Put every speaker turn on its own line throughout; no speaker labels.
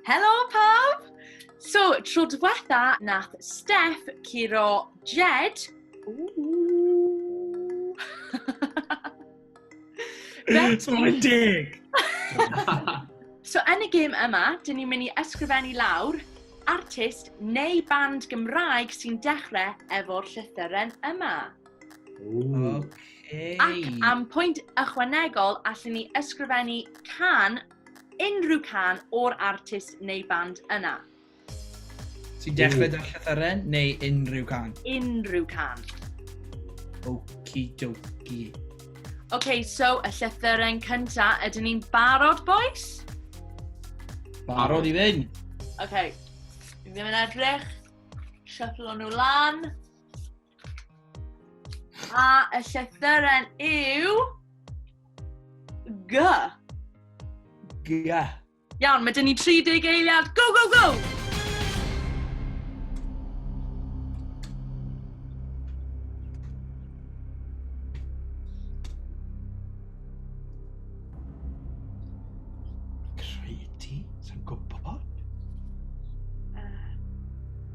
Helo pawb! So, tro diwetha nath Steph curo Jed.
Mae'n deg!
so, yn y gêm yma, dyn ni'n mynd i ysgrifennu lawr artist neu band Gymraeg sy'n dechrau efo'r llythyren yma. Okay. Ac am pwynt ychwanegol, allan ni ysgrifennu can unrhyw can o'r artist neu band yna.
Ti'n dechrau da'r llythyren neu unrhyw can? Unrhyw can. Okie dokie. OK,
so y llythyren cynta, ydyn ni'n barod, boys?
Barod i fynd. OK,
ddim yn edrych. Shuffle nhw lan. A y llythyren yw... G.
G. Iawn,
mae dyn
ni 30 eiliad. Go, go, go!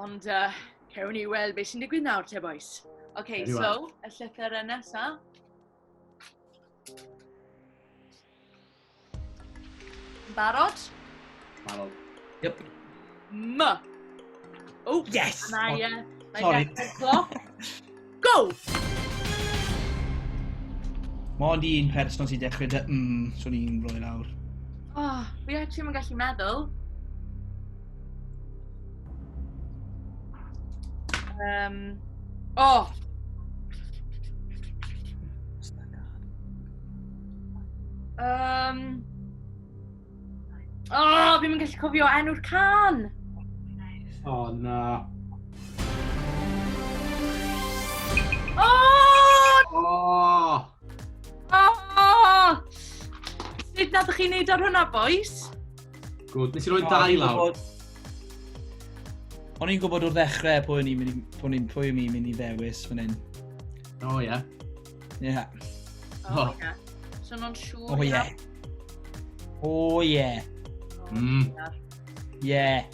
Ond uh, cewn ni weld beth sy'n digwydd nawr, te boys. Oce, okay, so, y llythyr yn nesa. Barod?
Barod. Yep.
M.
Oh, yes! Mae, uh,
mae
Sorry.
Go! Mae ond un person sy'n dechrau dy mm, so ni'n rhoi lawr. Oh, fi actually
ddim yn gallu meddwl. Um, oh! Um, O, oh, fi'n mynd gallu cofio enw'r can! O,
oh, na. O!
O! O! Sut nad ych chi'n neud ar hwnna, boys? Gwyd, nes
i roi dau lawr.
O'n i'n gwybod o'r ddechrau pwy o'n i'n mynd i ddewis fan hyn. O, ie.
Ie. Yeah.
Oh, oh.
yeah. So nhw'n siŵr oh, yeah. Oh, yeah. Oh,
mm. Yeah.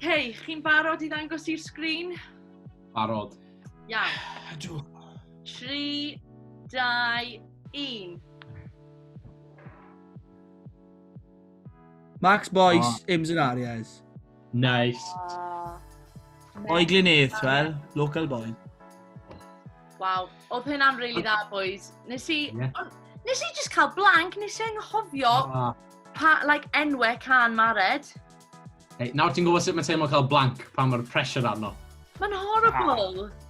Hei, chi'n barod i ddangos i'r sgrin? Barod. Iawn. Ydw. 3, 2, 1.
Max Boyce, oh. Ims and Arias. Nice.
Uh,
O'i Glynedd, wel, local boy. Waw, oedd
hynna'n rili really dda, boys. Nes i, yeah. on, nes i just cael blank, nes i anghofio ah. pa, like, enwe can mared. Hey,
nawr ti'n gwybod sut mae teimlo cael blank pan mae'r pressure arno. Mae'n horrible.
Ah.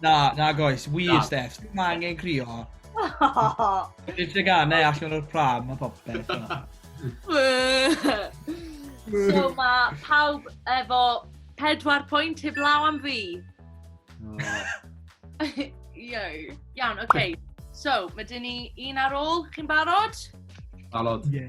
Na,
na goes, wir Na. Steph, ddim angen crio. Dwi'n teganau allan o'r pram a popeth.
So mae pawb efo pedwar pwynt heb law am fi. Iau. Iawn, oce. Okay. So, mae dyn ni un ar ôl, chi'n barod? Barod.
Ie.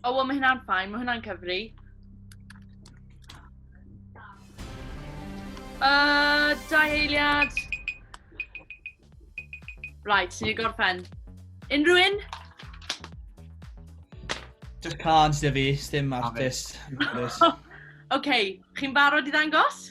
O, oh, wel, mae
hynna'n ffain, mae hynna'n cyfri. Uh, dau eiliad. Right, sy'n ei gorffen. Unrhyw un?
Just can't, dy fi, stym artist.
OK, chi'n barod i ddangos?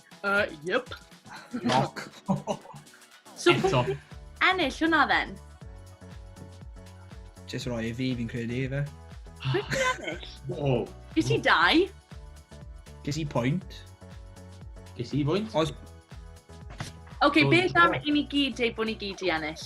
Uh, yep.
Lock. so, Eto.
Ennill hwnna
then?
Just roi i fi, fi'n credu, fe. Pwy ti'n ennill?
O. Ges i
dau.
Ges
i pwynt.
Ges i pwynt. Os...
Oce, okay, beth am i ni gyd dweud bod ni gyd i ennill?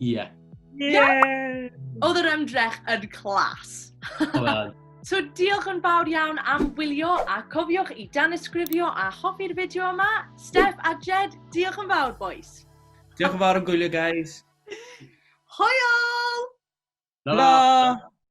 Ie. Ie!
Oedd yr ymdrech yn clas. Oedd. So diolch yn fawr iawn am wylio a cofiwch i danysgrifio a hoffi'r fideo yma. Steph a Jed, diolch yn fawr boys. Diolch yn fawr am
gwylio guys.
Hwyl!
Hwyl! Hwyl!